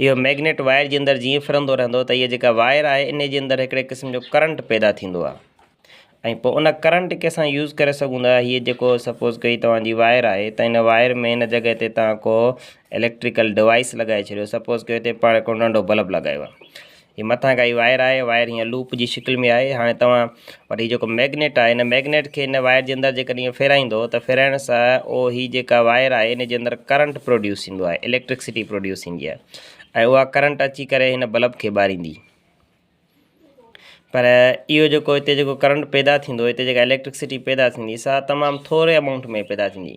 اهو magnet wire جي اندر جيئن ڦرندو رهندو ته هيء جيڪا وائر آهي ان جي اندر هڪڙي قسم جو ڪرنٽ پيدا ٿيندو آهي ۽ پوء ان ڪرنٽ کي اسان يوز ڪري سگهون ٿا هيء جيڪو سپوز ڪئي توهان جي وائر آهي ته ان وائر ۾ ان جڳهه تي توهان ڪو اليڪٽريڪل ڊوائس لڳائي ڇڏيو سپوز ڪيو هتي پاڻ هڪڙو ننڍو بلب لڳايو آهي هي مٿان ڪائي وائر آهي وائر هيئن لوپ جي شڪل ۾ آهي هاڻي توهان وٽ هي جيڪو ميگنيٽ آهي هن ميگنيٽ کي هن وائر جي اندر جيڪڏهن هيئن ڦيرائيندو ته ڦيرائڻ سان او هي جيڪا وائر آهي ان جي اندر ڪرنٽ پروڊيوس ٿيندو آهي اليڪٽرڪسٽي پروڊيوس ٿيندي آهي ۽ اها ڪرنٽ اچي ڪري هن بلب کي ٻاريندي پر اهو جيڪو هتي جيڪو ڪرنٽ پيدا ٿيندو هتي جيڪا اليڪٽرڪسٽي پيدا ٿيندي سا تمام ٿوري امائونٽ ۾ پيدا ٿيندي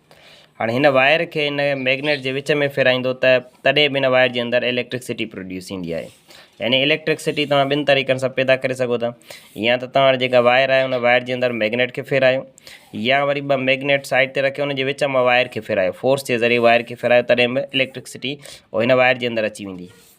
هاڻي هن وائر کي ان ميگنيٽ جي وچ ۾ ڦيرائيندو ته تڏهن به ان وائر جي اندر اليڪٽرڪسٽي پروڊيوس ٿيندي آهي يعني اليڪٽرڪسٽي توهان ٻن طريقن سان پيدا ڪري سگهو ٿا يا ته توهان جيڪا وائر آهي ان وائر جي اندر ميگنيٽ کي ڦيرايو يا وري ٻه ميگنيٽ سائيڊ تي رکي ان جي وچ مان وائر کي ڦيرايو فورس جي ذريعي وائر کي ڦيرايو تڏهن به اليڪٽرڪسٽي هن وائر جي اندر اچي ويندي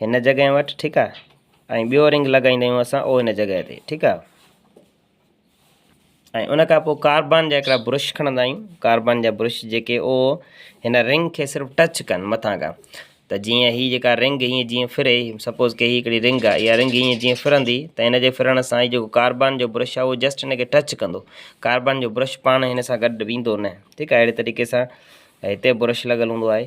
هن جڳهه وٺ ٺيڪ آ ۽ ٻيو رنگ لڳائيندا آهيون اسان او هن جڳهه تي ٺيڪ آ ۽ ان کان پوء ڪاربان جا هڪڙا برش کڻندا آهيون ڪاربان جا برش جيڪي او هن رنگ کي صرف ٽچ ڪن مٿان کان ته جيئن هي جيڪا رنگ هي جيئن ڦري سپوز ڪي هي هڪڙي رنگ آهي اها رنگ هي جيئن ڦرندي ته هن جي ڦرڻ سان هي جيڪو ڪاربان جو برش آهي اهو جسٽ هن کي ٽچ ڪندو ڪاربان جو برش پاڻ هن سان گڏ ويندو نه ٺيڪ آهي اهڙي طريقي سان هتي برش لڳل هوندو آهي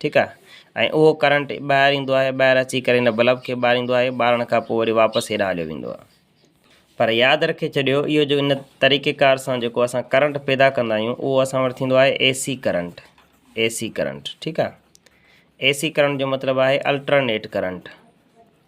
ٺيڪ آهي ۽ اهو ڪرنٽ ٻاهر ايندو آهي ٻاهر اچي ڪري ان بلب کي ٻاريندو آهي ٻارڻ کان پوء وري واپس هيڏانهن هليو ويندو آهي پر ياد رکي ڇڏيو اهو جو ان طريقي ڪار سان جيڪو اسان ڪرنٽ پيدا ڪندا آهيون اهو اسان وٽ ٿيندو آهي A C current A C current ٺيڪ آهي اي سي ڪرنٽ جو مطلب آهي الٽرنيٽ ڪرنٽ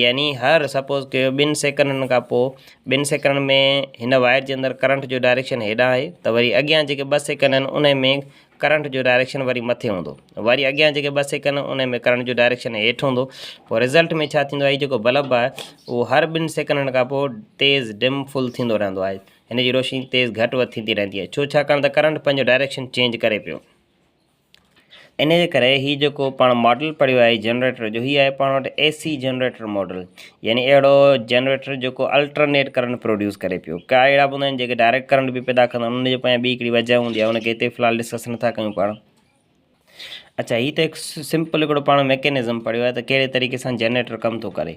يعني هر سپوز ڪيو ٻن سيڪنڊن کان پوء ٻن سيڪنڊن ۾ هن وائر جي اندر ڪرنٽ جو ڊائريڪشن هيڏانهن آهي ته وري اڳيان جيڪي ٻه سيڪنڊ آهن ان ۾ ڪرنٽ جو ڊائريڪشن وري مٿي هوندو وري اڳيان جيڪي ٻه سيڪنڊ ان ۾ ڪرنٽ جو ڊائريڪشن هيٺ هوندو پوء رزلٽ ۾ ڇا ٿيندو آهي هي جيڪو بلب آهي اهو هر ٻن سيڪنڊن کان پوء تيز ڊم فل ٿيندو رهندو آهي هن جي روشني تيز گهٽ وڌ ٿيندي رهندي آهي ڇو ڇاڪاڻ ته ڪرنٽ پنهنجو ڊائريڪشن چينج ڪري پيو انهيء جي ڪري هي جيڪو پاڻ ماڊل پڙهيو آهي جنريٽر جو، هي آهي پاڻ وٽ اي سي جنريٽر ماڊل. يعني اهڙو جنريٽر جيڪو الٽرنيٽ ڪرنٽ پروڊيوس ڪري پيو. ڪا اهڙا به هوندا آهن جيڪي ڊائريڪٽ ڪرنٽ به پيدا ڪندا آهن. انهن جي پويان ٻي هڪڙي وجه هوندي آهي، ان کي هتي في الحال ڊسڪس نٿا ڪيون پاڻ. اڇا هي ته هڪ سمپل هڪڙو پاڻ ميڪنزم پڙهيو آهي ته ڪهڙي طريقي سان جنريٽر ڪم ٿو ڪري.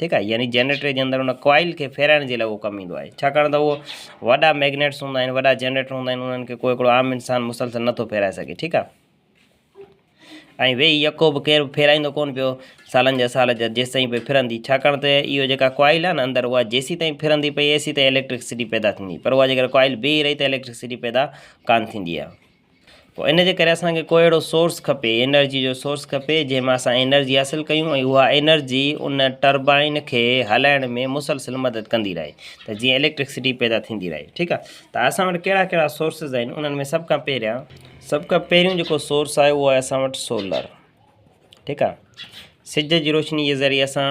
ٺيڪ آهي يعني جنريٽر جي اندر ان ڪوائل کي ڦيرائڻ جي لاء اهو ڪم ايندو آهي ڇاڪاڻ ته اهو وڏا ميگنيٽس هوندا آهن وڏا جنريٽر هوندا آهن انهن کي ڪو هڪڙو عام انسان مسلسل نٿو ڦيرائي سگهي ٺيڪ آهي ۽ ويهي يڪو به ڪير ڦيرائيندو ڪون پيو سالن جا سال جا جيسي تائين پئي ڦرندي ڇاڪاڻ ته اهو جيڪا ڪوائل آهي نه اندر اها جيسي تائين ڦرندي پئي ايسي تائين اليڪٽرڪسٽي پيدا ٿيندي پر اها جيڪر ڪوائل بيهي رهي ته اليڪٽرڪسٽي پيدا ڪان ٿيندي آهي پوء ان جي ڪري اسان کي ڪو اهڙو سورس کپي انرجي جو سورس کپي جنهن مان اسان انرجي حاصل ڪيون ۽ اها انرجي ان ٽربائن کي هلائڻ ۾ مسلسل مدد ڪندي رهي ته جيئن اليڪٽرڪسٽي پيدا ٿيندي رهي ٺيڪ آهي ته اسان وٽ ڪهڙا ڪهڙا سورسز آهن انهن ۾ سڀ کان پهريان سڀ کان پهريون جيڪو سورس آهي اهو آهي اسان وٽ سولر ٺيڪ آهي سج جي روشني جي ذريعي اسان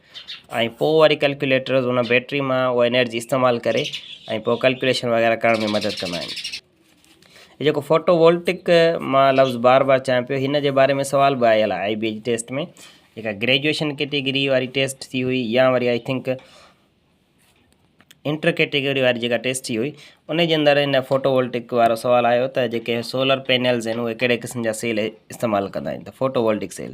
۽ پوء وري ڪلڪيوليٽرز ان بيٽري مان اها انرجي استعمال ڪري ۽ پوء ڪلڪيوليشن وغيره ڪرڻ ۾ مدد ڪندا آهن هي جيڪو فوٽو وولٽڪ مان لفظ بار بار چيان پيو هن جي باري ۾ سوال به آيل آهي آئي بي جي ٽيسٽ ۾ جيڪا گريجويشن ڪيٽيگري واري ٽيسٽ ٿي هئي يا وري آئي ٿنڪ انٽر ڪيٽيگري واري جيڪا ٽيسٽ ٿي هئي ان جي اندر هن فوٽو وولٽڪ وارو سوال آيو ته جيڪي سولر پينلز آهن اهي ڪهڙي قسم جا سيل استعمال ڪندا آهن ته فوٽو وولٽڪ سيل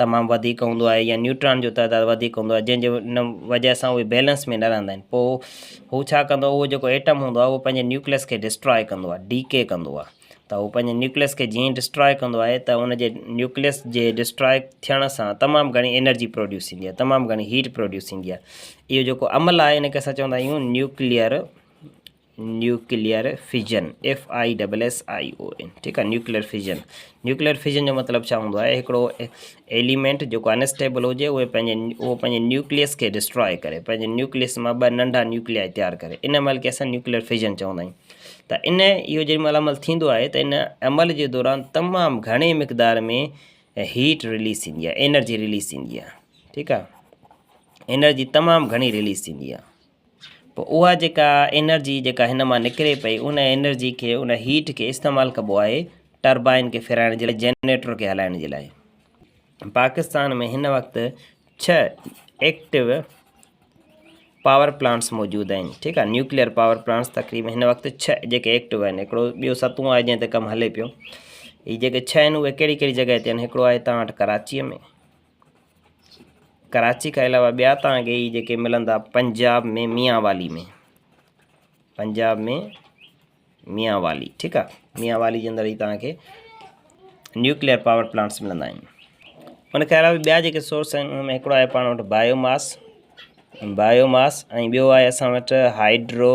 تمام وڌيڪ هوندو آهي يا نيوٽران جو تعداد وڌيڪ هوندو آهي جنهن جي ان وجه سان اهي بيلنس ۾ نه رهندا آهن پوء هو ڇا ڪندو اهو جيڪو ايٽم هوندو آهي اهو پنهنجي نيوڪليس کي ڊسٽراء ڪندو آهي ڊي ڪي ڪندو آهي ته هو پنهنجي نيوڪليس کي جيئن ڊسٽراء ڪندو آهي ته ان جي نيوڪليس جي ڊسٽراء ٿيڻ سان تمام گهڻي انرجي پروڊيوس ٿيندي آهي تمام گهڻي هيٽ پروڊيوس ٿيندي آهي اهو جيڪو عمل آهي ان کي اسان چوندا آهيون نيوڪليئر نيوڪليئر فيزن، FISSION، ٺيڪ آهي نيوڪليئر فيزن، نيوڪليئر فيزن جو مطلب ڇا هوندو آهي هڪڙو ايليمينٽ جيڪو انسٽيبل هجي اهي پنهنجي اهو پنهنجي نيوڪليس کي ڊسٽراء ڪري پنهنجي نيوڪليس مان ٻه ننڍا نيوڪليا تيار ڪري ان عمل کي اسان نيوڪليئر فيزن چوندا آهيون ته ان اهو جنهن مهل عمل ٿيندو آهي ته ان عمل جي دوران تمام گهڻي مقدار ۾ هيٽ ريليز ٿيندي آهي انرجي ريليز ٿيندي آهي ٺيڪ آهي انرجي تمام گهڻي ريليز ٿيندي آهي پوء اها جيڪا انرجي جيڪا هن مان نڪري پئي ان انرجي کي ان هيٽ کي استعمال ڪبو آهي ٽربائن کي ڦيرائڻ جي لاء جنريٽر کي هلائڻ جي لاء پاڪستان ۾ هن وقت ڇهه ايڪٽو پاور پلانٽس موجود آهن ٺيڪ آهي نيوڪليئر پاور پلانٽس تقريبا هن وقت ڇهه جيڪي ايڪٽو آهن هڪڙو ٻيو ستون آهي جنهن تي ڪم هلي پيو هي جيڪي ڇهه آهن اهي ڪهڙي ڪهڙي جڳهه تي آهن هڪڙو آهي تان وٽ ڪراچيء ۾ ڪراچي کان علاوه ٻيا تان گي هي جيڪي ملندا پنجاب ۾ ميان والي ۾ پنجاب ۾ ميان والي ٺيڪ آ ميان والي جي اندر هي تان کي نيوڪليئر پاور پلانٽس ملندا آهن ان کان علاوه ٻيا جيڪي سورس آهن ان هڪڙو آهي پاڻ وٽ بايو ماس بايو ماس ۽ ٻيو آهي اسان وٽ هائيڊرو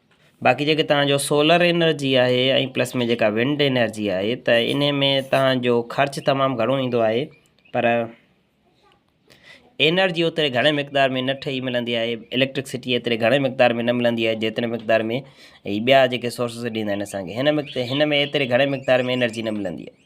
باقي جيڪي توهان جو سولر انرجي آهي ۽ پلس ۾ جيڪا ونڊ انرجي آهي ته ان ۾ توهان جو خرچ تمام گهڻو ايندو آهي پر انرجي اوتري گهڻي مقدار ۾ نه ٺهي ملندي آهي اليڪٽرڪسٽي ايتري گهڻي مقدار ۾ نه ملندي آهي جيتري مقدار ۾ هي ٻيا جيڪي سورسز ڏيندا آهن اسانکي هن مقدار هن ۾ ايتري گهڻي مقدار ۾ انرجي نه ملندي آهي